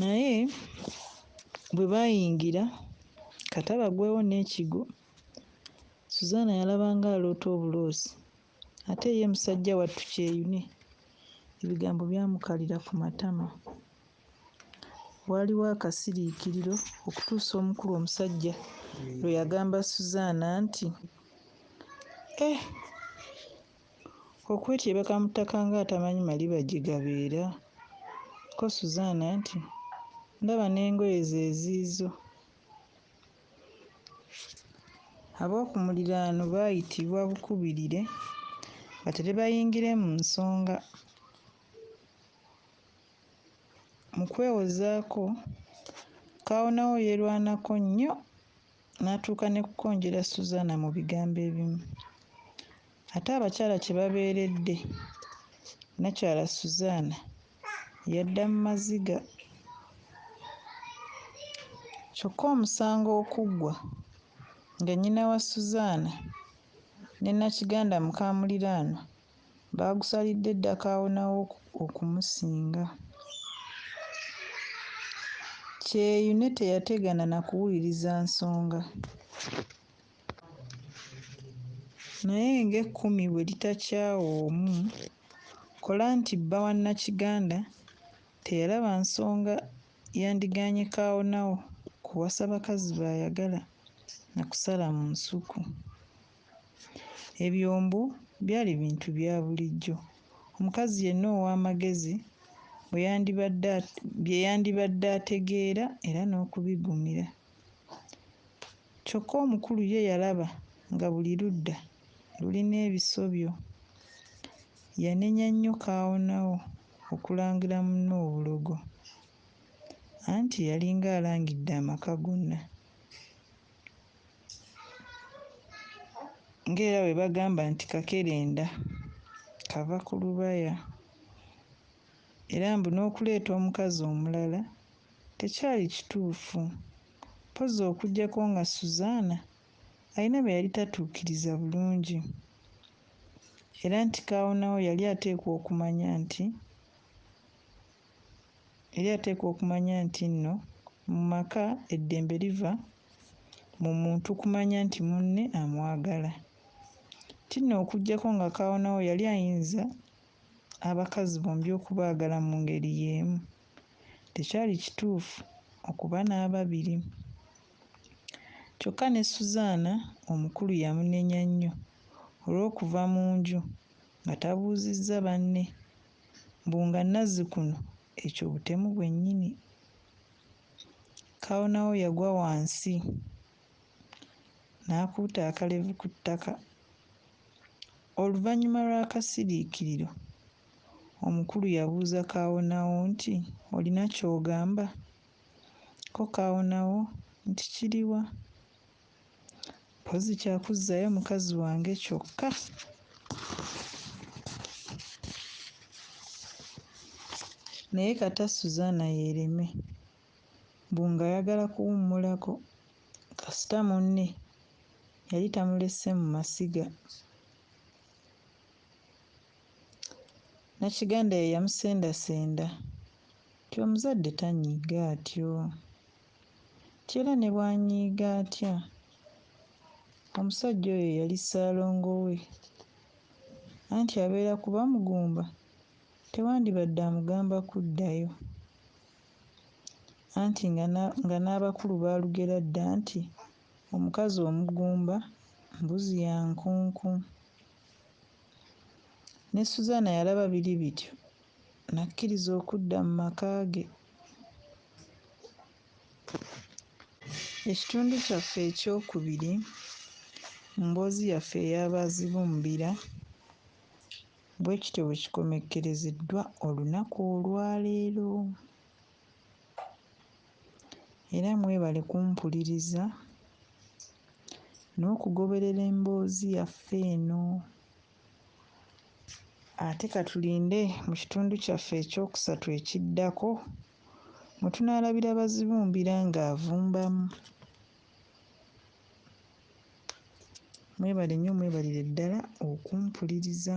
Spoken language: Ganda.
Naye bwe baayingira, kata bagwewo n'ekigwo, Suzaana yalaba ng'aloota obuloosi ate ye musajjawattu Kyeyune ebigambo byamukalira ku matama. Waaliwo akasiriikiriro okutuusa omukulu omusajja lwe yagamba Suzaana nti, Eh! Okwetyebeka mu ttaka ng'atamanyi maliba gye gabeera. Ko Suzan nti, Ndaba n'engoye ze ziizo. Ab'oku muliraano baayitibwa bukubirire batere bayingire mu nsonga. Mu kwewozaako, kaawonawo yeerwanako nnyo. n'atuuka ne kukonjera Suzana mu bigambo ebimu. Ate abakyala kye babeeredde, nnakyala Suzana yadda mu maziga. Kyokka omusango okuggwa nga nnyina wa Suzana ne Nakiganda mukaamuliraanwa, baagusalidde dda kaawonawo okumusinga. Kyeyune teyategana na kuwuliriza nsonga naye ng'ekkumi bwe litakyawa omu, kola nti bba wa Nakiganda teyalaba nsonga yandigaanye kaawonawo kuwasa bakazi b'ayagala na kusala mu nsuku. Ebyombo byali bintu bya bulijjo omukazi yenna ow'amagezi bwe yandibadde bye yandibadde ategeera era n'okubigumira. Kyokka omukulu ye yalaba nga buli ludda lulina ebisobyo. Yanenya nnyo kaawonawo okulangira munne obulogo anti yalinga alangidde amaka gonna. ng'era bwe bagamba nti kakerenda kava ku lubaya era mbu n'okuleeta omukazi omulala tekyali kituufu mpozzi okuggyako nga Suzana alina bye yali tatuukiriza bulungi era nti kaawonawo yali ateekwa okumanya nti Yali ateekwa okumanya nti nno mu maka eddembe liva mu muntu kumanya nti munne amwagala. Nti nno okuggyako nga Kaawonawo yali ayinza abakazi bombi okubaagala mu ngeri y'emu, tekyali kituufu okuba n'ababiri. Kyokka ne Suzaana omukulu yamunenya nnyo olw'okuva mu nju nga tabuuzizza banne. mbu nga nazzikuno ekyo butemu bwenyini kawonawo yagwa wansi nakuuta akalevu ku ttaka oluvanyuma lwakasiriikiriro omukulu yabuuza kawonawo nti olina kyogamba ko kawonawo nti kiriwa? mpozi kyakuzzayo mukazi wange kyokka naye kata suzana yereme mbu ng'ayagala kuwummulako kasita munne yali tamulese mu masiga nakiganda ye yamusendasenda nti omuzadde tanyiiga atyo Nti era ne bw'anyiiga atya, omusajja oyo yali ssaalongo we. Anti abeera ku Bamugumba, tewandibadde amugamba kuddayo. Anti nga na, nga n'abakulu baalugera dda nti, Omukazi omugumba, mbuzi ya nkunku. Ne Susana yalaba biri bityo. n'akkiriza okudda mu maka ge. Ekitundu kyaffe eky'okubiri mu mboozi yaffe eya Baazibumbira bwe kityo bwe kikomekkerezeddwa olunaku olwaleero. Era mwebale kumpuliriza n'okugoberera emboozi yaffe eno. Ate ka tulinde mu kitundu kyaffe ekyokusatu ekiddako mwe tunaalabira Bazibumbira ng'avumbamu. Mwebale nnyo mwebalire ddala okumpuliriza.